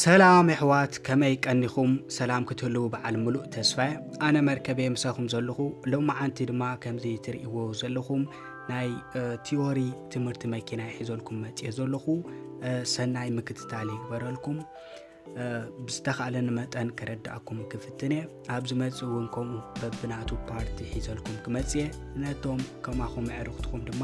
ሰላም የሕዋት ከመይ ቀኒኹም ሰላም ክትህልዉ በዓል ምሉእ ተስፋ እየ ኣነ መርከበየ ምሳኹም ዘለኹ ሎመዓንቲ ድማ ከምዚ ትርእይዎ ዘለኹም ናይ ቲዎሪ ትምህርቲ መኪና ይሒዘልኩም መፅየ ዘለኹ ሰናይ ምክትታል ይግበረልኩም ብዝተኻእለኒ መጠን ክረዳእኩም ክፍትን እየ ኣብ ዝመፅእ እውን ከምኡ በብናቱ ፓርቲ ሒዘልኩም ክመፅእ እየ ነቶም ከማኹም ኣዕርኽትኹም ድማ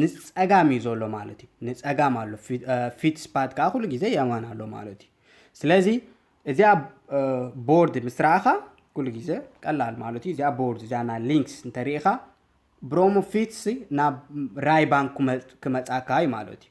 ንጸጋም እዩ ዘሎ ማለት እዩ ንጸጋም ኣሎ ፊት ስፓት ከዓ ኩሉ ግዜ የማን ኣሎ ማለት እዩ ስለዚ እዚኣ ቦርድ ምስ ረኣኻ ኩሉ ግዜ ቀላል ማለት እዩ እዚኣ ቦርድ እዚኣ ናይ ሊንክስ እንተርኢኻ ብሮሞ ፊትስ ናብ ራይ ባንክ ክመጻካ እዩ ማለት እዩ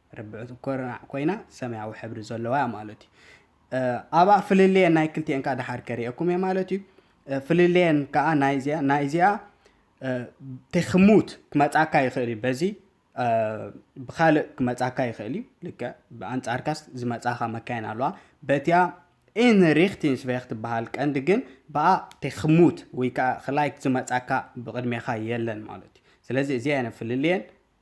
ርብዒት ኩርናዕ ኮይና ሰማያዊ ሕብሪ ዘለዋ እያ ማለት እዩ ኣብኣ ፍልልየን ናይ ክልቲኤን ከዓ ድሓር ከርእየኩም እየ ማለት እዩ ፍልልየን ከዓ ናይ እዚኣ ተክሙት ክመፃካ ይኽእል እዩ በዚ ብካልእ ክመፃካ ይኽእል እዩ ልክዕ ብኣንፃርካስ ዝመፃኻ መካይን ኣለዋ በቲያ ኢንሪክቲንስ ቬክ ትበሃል ቀንዲ ግን ብኣ ተክሙት ወይ ከዓ ክላይክ ዝመፃካ ብቅድሜኻ የለን ማለት እዩ ስለዚ እዚኣ ፍልልየን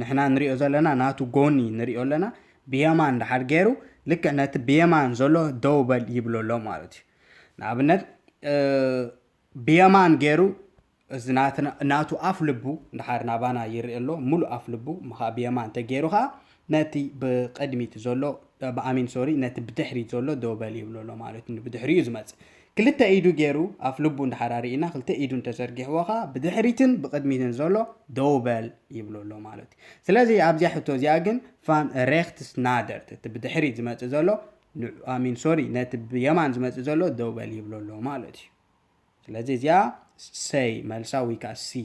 ንሕና ንሪኦ ዘለና ናቱ ጎኒ ንሪኦ ኣለና ብየማን ድሓር ገይሩ ልክዕ ነቲ ብየማን ዘሎ ደው በል ይብሎ ኣሎ ማለት እዩ ንኣብነት ብየማን ገይሩ እዚ ናቱ ኣፍ ልቡ ድሓር ናባና ይርኢ ኣሎ ሙሉእ ኣፍ ልቡ ምኻ ብየማን እንተገይሩ ከዓ ነቲ ብቅድሚት ዘሎ ብኣሚን ሶሪ ነቲ ብድሕሪት ዘሎ ደው በል ይብሎ ኣሎ ማለት እዩ ብድሕሪኡ ዝመፅእ ክልተ ኢዱ ጌሩ ኣፍ ልቡ እንድሓር ኣርኢና ክልተ ኢዱን ተዘርጊሕዎ ከኣ ብድሕሪትን ብቅድሚትን ዘሎ ደው በል ይብሎ ኣሎ ማለት እዩ ስለዚ ኣብዚኣ ሕቶ እዚኣ ግን ፋን ሬክትስ ናደርት እቲ ብድሕሪት ዝመጽእ ዘሎ ኣሚን ሶሪ ነቲ ብየማን ዝመጽእ ዘሎ ደው በል ይብሎ ኣሎ ማለት እዩ ስለዚ እዚኣ ሰይ መልሳ ወይ ከዓ ሲ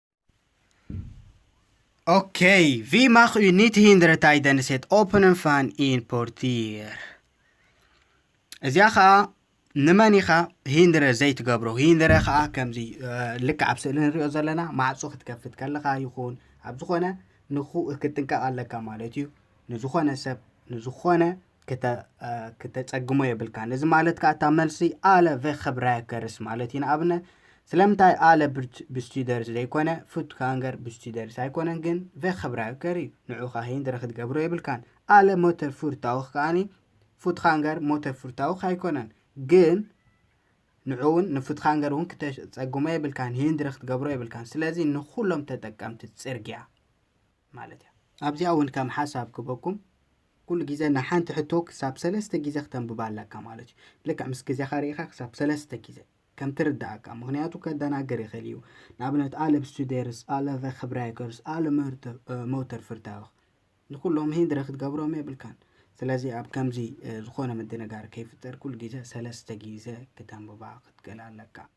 Okej, vi mag u niet hinderen tijdens het openen van een portier. እዚኣ ከዓ ንመን ኢኻ ሂንድረ ዘይትገብሮ ሂንድረ ከዓ ከምዚ ልክዕ ኣብ ስእሊ ንሪኦ ዘለና ማዕፆ ክትከፍት ከለኻ ይኹን ኣብ ዝኾነ ንኹ ክትጥንቀቕ ኣለካ ማለት እዩ ንዝኾነ ሰብ ንዝኾነ ክተጸግሞ የብልካን እዚ ማለት ከዓ እታ መልሲ ኣለ ቨክብራያ ከርስ ማለት እዩ ንኣብነ ስለምንታይ ኣለ ብስቱደርስ ዘይኮነ ፉት ካንገር ብስቱደርስ ኣይኮነን ግን ቨክብራያ ከር እዩ ንዑ ከዓ ሂንድረ ክትገብሮ የብልካን ኣለ ሞተር ፉርታውክ ከዓኒ ፉት ካንገር ሞተር ፉርታውክ ኣይኮነን ግን ንዑ እውን ንፉት ካንገር እውን ክተጸግሞ የብልካን ሂንድረ ክትገብሮ የብልካን ስለዚ ንኩሎም ተጠቀምቲ ጽርግያ ማለት እያ። ኣብዚኣ እውን ከም ሓሳብ ክበኩም ኩሉ ግዜ ንሓንቲ ሕቶ ክሳብ ሰለስተ ግዜ ክተንብባ ኣለካ ማለት እዩ። ልክዕ ምስ ግዜኻ ርኢኻ ክሳብ ሰለስተ ግዜ ከም ትርድኣካ ምክንያቱ ከደናግር ይኽእል እዩ። ንኣብነት ኣለ ብስቱዴርስ፣ ኣለ ቨክብራይከርስ፣ ኣለ መውተር ፍርታውኽ ንኩሎም ሂንድረ ክትገብሮም የብልካን። ስለዚ ኣብ ከምዚ ዝኾነ ምድንጋር ከይፍጠር ኩሉ ግዜ ሰለስተ ግዜ ክተንብባ ክትክእል ኣለካ።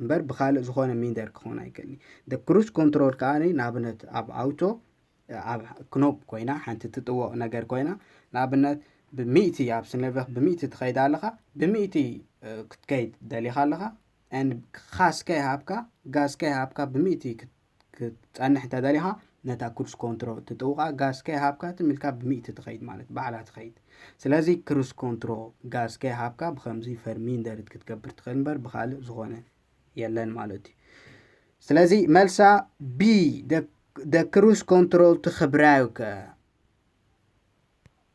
እምበር ብካልእ ዝኾነ ሚንደር ክኾን ኣይክእልኒ ደ ክሩስ ኮንትሮል ከኣ ንኣብነት ኣብ ኣውቶ ኣብ ክኖብ ኮይና ሓንቲ ትጥወቕ ነገር ኮይና ንኣብነት ብሚእቲ ኣብ ስነቨኽ ብሚእቲ ትኸይድ ኣለኻ ብሚእቲ ክትከይድ ደሊኻ ኣለኻ ን ካስ ከይሃብካ ጋዝ ከይሃብካ ብሚእቲ ክትጸንሕ እንተደሊኻ ነታ ክሩስ ኮንትሮ ትጥውቓ ጋዝ ከይሃብካ ትም ኢልካ ብሚእቲ ትኸይድ ማለት ባዕላ ትኸይድ ስለዚ ክሩስ ኮንትሮ ጋዝ ከይሃብካ ብከምዚ ፈርሚንደርት ክትገብር ትኽእል እምበር ብካልእ ዝኾነ የለን ማለት እዩ ስለዚ መልሳ ቢ ደ ክሩስ ኮንትሮል ትኽብራዩከ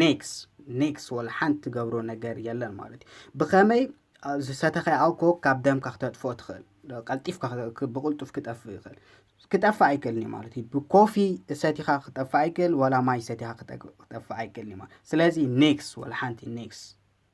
ኔክስ ኔክስ ወላ ሓንቲ ትገብሮ ነገር የለን ማለት እዩ ብኸመይ ዝሰተኸ ኣልኮ ካብ ደምካ ክተጥፍኦ ትኽእል ቀልጢፍካ ብቕልጡፍ ክጠፍእ ይኽእል ክጠፍእ ኣይክእልን እዩ ማለት እዩ ብኮፊ ሰቲኻ ክጠፍእ ኣይክእል ወላ ማይ ሰቲኻ ክጠፍእ ኣይክእልን እዩ ማለት ስለዚ ኔክስ ወላ ሓንቲ ኔክስ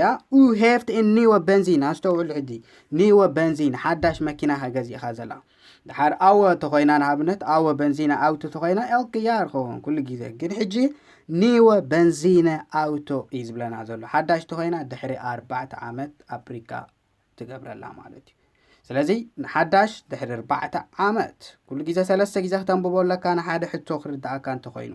ያ ኡ ሄፍት ን ኒወ በንዚን ኣስተውዕሉ ሕጂ ኒወ በንዚን ሓዳሽ መኪና ከ ገዚእኻ ዘላ ድሓር ኣወ ተኾይና ንኣብነት ኣወ በንዚና ኣውቶ ተኾይና ኤልክ ያ ርኸወን ኩሉ ግዜ ግን ሕጂ ኒወ በንዚነ ኣውቶ እዩ ዝብለና ዘሎ ሓዳሽ ተኾይና ድሕሪ ኣርባዕተ ዓመት ኣፕሪካ ትገብረላ ማለት እዩ ስለዚ ንሓዳሽ ድሕሪ ኣርባዕተ ዓመት ኩሉ ግዜ ሰለስተ ግዜ ክተንብቦ ኣለካ ንሓደ ሕቶ ክርድኣካ እንተኾይኑ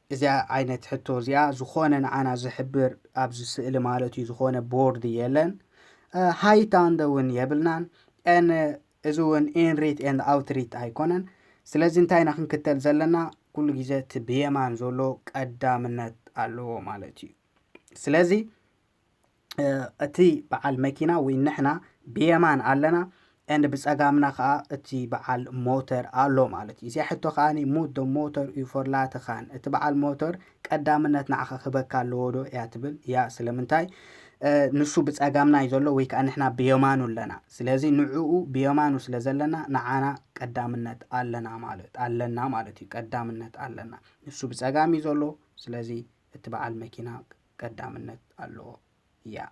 እዚኣ ዓይነት ሕቶ እዚኣ ዝኾነ ንዓና ዝሕብር ኣብዚ ስእሊ ማለት እዩ ዝኾነ ቦርድ የለን ሃይታንደ እውን የብልናን ን እዚ እውን ኢንሪት ን ኣውትሪት ኣይኮነን ስለዚ እንታይ ኢና ክንክተል ዘለና ኩሉ ግዜ እቲ ብየማን ዘሎ ቀዳምነት ኣለዎ ማለት እዩ ስለዚ እቲ በዓል መኪና ወይ ንሕና ብየማን ኣለና ኤንድ ብጸጋምና ከኣ እቲ በዓል ሞተር ኣሎ ማለት እዩ። እዚኣ ሕቶ ከኣ ሙት ዶ ሞተር እዩ ፎርላተ ካን እቲ በዓል ሞተር ቀዳምነት ንዓኻ ክህበካ ኣለዎ ዶ እያ ትብል እያ ስለምንታይ ንሱ ብጸጋምና እዩ ዘሎ ወይ ከኣ ንሕና ብየማኑ ኣለና ስለዚ ንዕኡ ብየማኑ ስለ ዘለና ንዓና ቀዳምነት ኣለና ማለት ኣለና ማለት እዩ ቀዳምነት ኣለና ንሱ ብጸጋም እዩ ዘሎ ስለዚ እቲ በዓል መኪና ቀዳምነት ኣለዎ ያ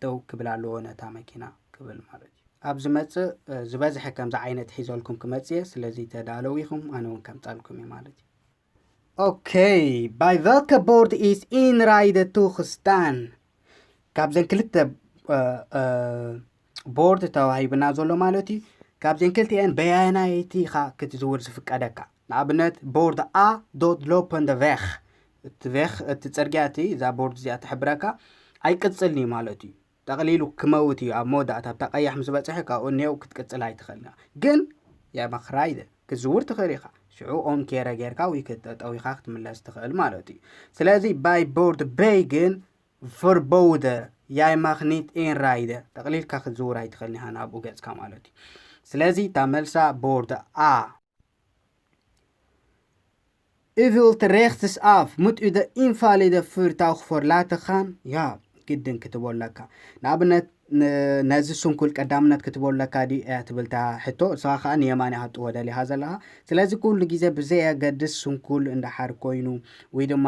ደው ክብል ኣለዎ ነታ መኪና ክብል ማለት እዩ ኣብ ዝመጽእ ዝበዝሐ ከምዚ ዓይነት ሒዘልኩም ክመጽእ እየ ስለዚ ተዳለው ኢኹም ኣነ እውን ከምጻልኩም እዩ ማለት እዩ Okej, bei welka bord is inride toegestaan? ካብዘን ክልተ ቦርድ ተዋሂብና ዘሎ ማለት እዩ ካብዘን ክልቲኤን በያናይቲ ኢኻ ክትዝውር ዝፍቀደካ ንኣብነት ቦርድ ኣ ዶት ሎፐንደ ቬኽ እቲ ቬኽ እቲ ፅርግያ እቲ እዛ ቦርድ እዚኣ ትሕብረካ ኣይቅፅልን እዩ ማለት እዩ ጠቕሊሉ ክመውት እዩ ኣብ መወዳእታ ኣብታ ቀያሕ ምስ በፅሐ ካብኡ እኔው ክትቅፅል ኣይትኽእልን ኢኻ ግን የመኽራይደ ክትዝውር ትኽእል ኢኻ ሽዑ ኦን ኬረ ጌርካ ወይ ክትጠጠው ኢኻ ክትምለስ ትኽእል ማለት እዩ ስለዚ ባይ ቦርድ በይ ግን ቨርቦውደ ያይ ማኽ ኒት ኤን ራይደ ጠቕሊልካ ክትዝውር ኣይትኽእልን ኢኻ ናብኡ ገጽካ ማለት እዩ ስለዚ እታ መልሳ ቦርደ ኣ እቪልት ሬክትስ ኣፍ ምጥደ ኢንፋሊደ ፍርታው ክፎርላተኻን ያ ግድን ክትበለካ ንኣብነት ነዚ ስንኩል ቀዳምነት ክትበለካ ድዩ እያ ትብልታ ሕቶ እሰኻ ከዓ ንየማን እያ ክትወደል እያ ዘለኻ ስለዚ ኩሉ ግዜ ብዘየገድስ ስንኩል እንዳሓር ኮይኑ ወይ ድማ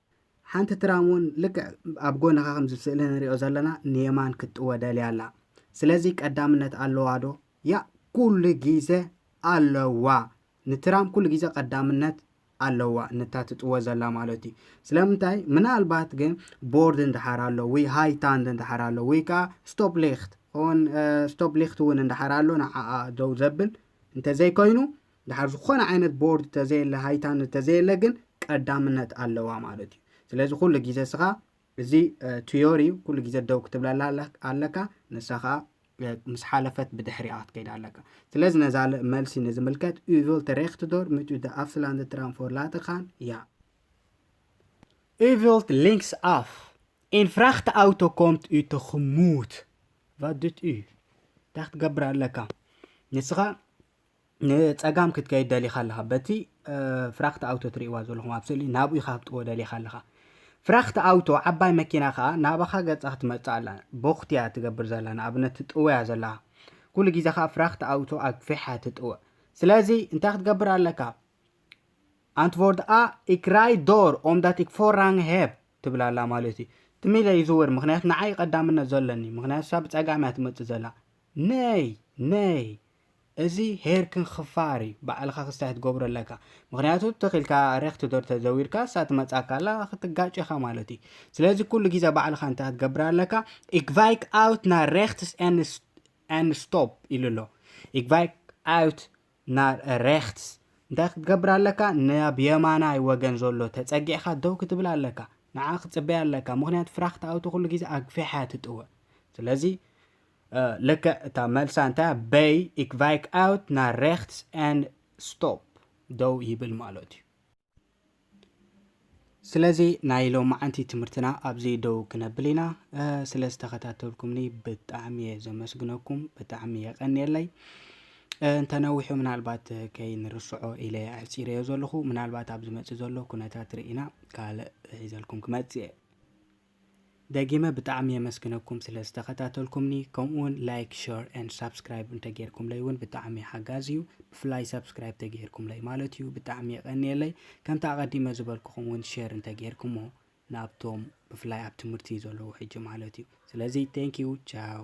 ሓንቲ ትራም እውን ልክዕ ኣብ ጎንኻ ከምዚ ኣብ ስእሊ ንሪኦ ዘለና ንየማን ክትጥወ ደልያ ኣላ። ስለዚ ቀዳምነት ኣለዋ ዶ? ያእ ኩሉ ግዘ ኣለዋ ንትራም ኩሉ ግዘ ቀዳምነት ኣለዋ ነታ ትጥወ ዘላ ማለት እዩ። ስለምንታይ ምናልባት ግን ቦርድ እንድሓር ኣሎ ወይ ሃይታንድ እንድሓር ኣሎ ወይ ከዓ ስቶፕ ሊክት ኦን ስቶፕ ሊክት እውን እንድሓር ኣሎ ንዓኣ ደው ዘብል እንተዘይኮይኑ ድሓር ዝኾነ ዓይነት ቦርድ ተዘየለ ሃይታ ንተዘየለ ግን ቀዳምነት ኣለዋ ማለት እዩ ስለዚ ኩሉ ግዜ ስኻ እዚ ትዮሪ ኩሉ ግዜ ደው ክትብለላ ኣለካ ንሳ ከዓ ምስ ሓለፈት ብድሕሪኣ ክትከይድ ኣለካ ስለዚ ነዛ መልሲ ንዝምልከት ኡቪል ተሬክትዶር ምቱ ደኣፍስላንድ ትራንፎር ላተኻን እያ ኡቪልት ሊንክስ ኣፍ ኢን ፍራክት ኣውቶ ኮምት እዩ ተኽሙት ቫድት እዩ እንታይ ክትገብር ኣለካ ንስኻ ንጸጋም ክትከይድ ደሊኻ ኣለኻ በቲ ፍራክት ኣውቶ ትርእይዋ ዘለኹም ኣብ ስእሊ ናብኡ ኢኻ ክትጥዎ ደሊኻ ኣለኻ ፍራክት ኣውቶ ዓባይ መኪና ከኣ ናባኻ ገጻ ክትመጽእ ኣላ ቦኽትያ ትገብር ዘላ ንኣብነት ትጥወያ ዘለኻ ኩሉ ግዜ ከኣ ፍራክት ኣውቶ ኣግፊሓ ትጥወ ስለዚ እንታይ ክትገብር ኣለካ ኣንትቮርድ ኣ ኢክራይ ዶር ኦምዳት ኢክፎራንግ ሄብ ትብል ኣላ ማለት እዩ ትሚለ ይዝውር ምክንያቱ ንዓይ ቀዳምነት ዘለኒ ምክንያቱ ሳብ ጸጋምያ ትመጽእ ዘላ ነይ ነይ እዚ ሄርክን ኽፋር እዩ ባዕልኻ ክስታይ ክትገብሮ ኣለካ ምክንያቱ ተኺልካ ረክቲ ዶር ተዘዊርካ እሳ ትመጻካ ኣላ ክትጋጭ ኢኻ ማለት እዩ ስለዚ ኩሉ ግዜ ባዕልኻ እንታይ ክትገብር ኣለካ ኢግቫይክ ኣውት ና ረክትስ ን ስቶፕ ኢሉ ኣሎ ኢግቫይክ ኣውት ና ረክትስ እንታይ ክትገብር ኣለካ ናብ የማናይ ወገን ዘሎ ተጸጊዕካ ደው ክትብል ኣለካ ንዓ ክጽበያ ኣለካ ምክንያቱ ፍራክት ኣውቶ ኩሉ ግዜ ኣግፊሓ ትጥወ ስለዚ ልክዕ እታ መልሳ እንታይ እያ በይ ኢክ ቫይክ ኣውት ናር ሬክትስ ኣንድ ስቶፕ ደው ይብል ማለት እዩ ስለዚ ናይ ሎማዓንቲ ትምህርትና ኣብዚ ደው ክነብል ኢና ስለ ዝተኸታተልኩምኒ ብጣዕሚ እየ ዘመስግነኩም ብጣዕሚ የቀኒየለይ እንተነዊሑ ምናልባት ከይንርስዖ ኢለ ኣሕፂረዮ ዘለኹ ምናልባት ኣብ ዝመፅእ ዘሎ ኩነታት ርኢና ካልእ ሒዘልኩም ክመፅእ እየ ደጊመ ብጣዕሚ የመስግነኩም ስለ ዝተከታተልኩምኒ ከምኡ ውን ላይክ ሸር and ሳብስክራይብ እንተ ጌርኩምለይ ውን ብጣዕሚ ሓጋዚ ዩ ብፍላይ ሳብስክራይብ ተገይርኩምለይ ማለት ዩ ብጣዕሚ የቀንየለይ ከምቲ ኣቀዲመ ዝበልኩኩም ውን ሸር እንተ ጌርኩሞ ናብቶም ብፍላይ ኣብ ትምህርቲ ዘለዉ ሕጂ ማለት ዩ ስለዚ thank you ቻው።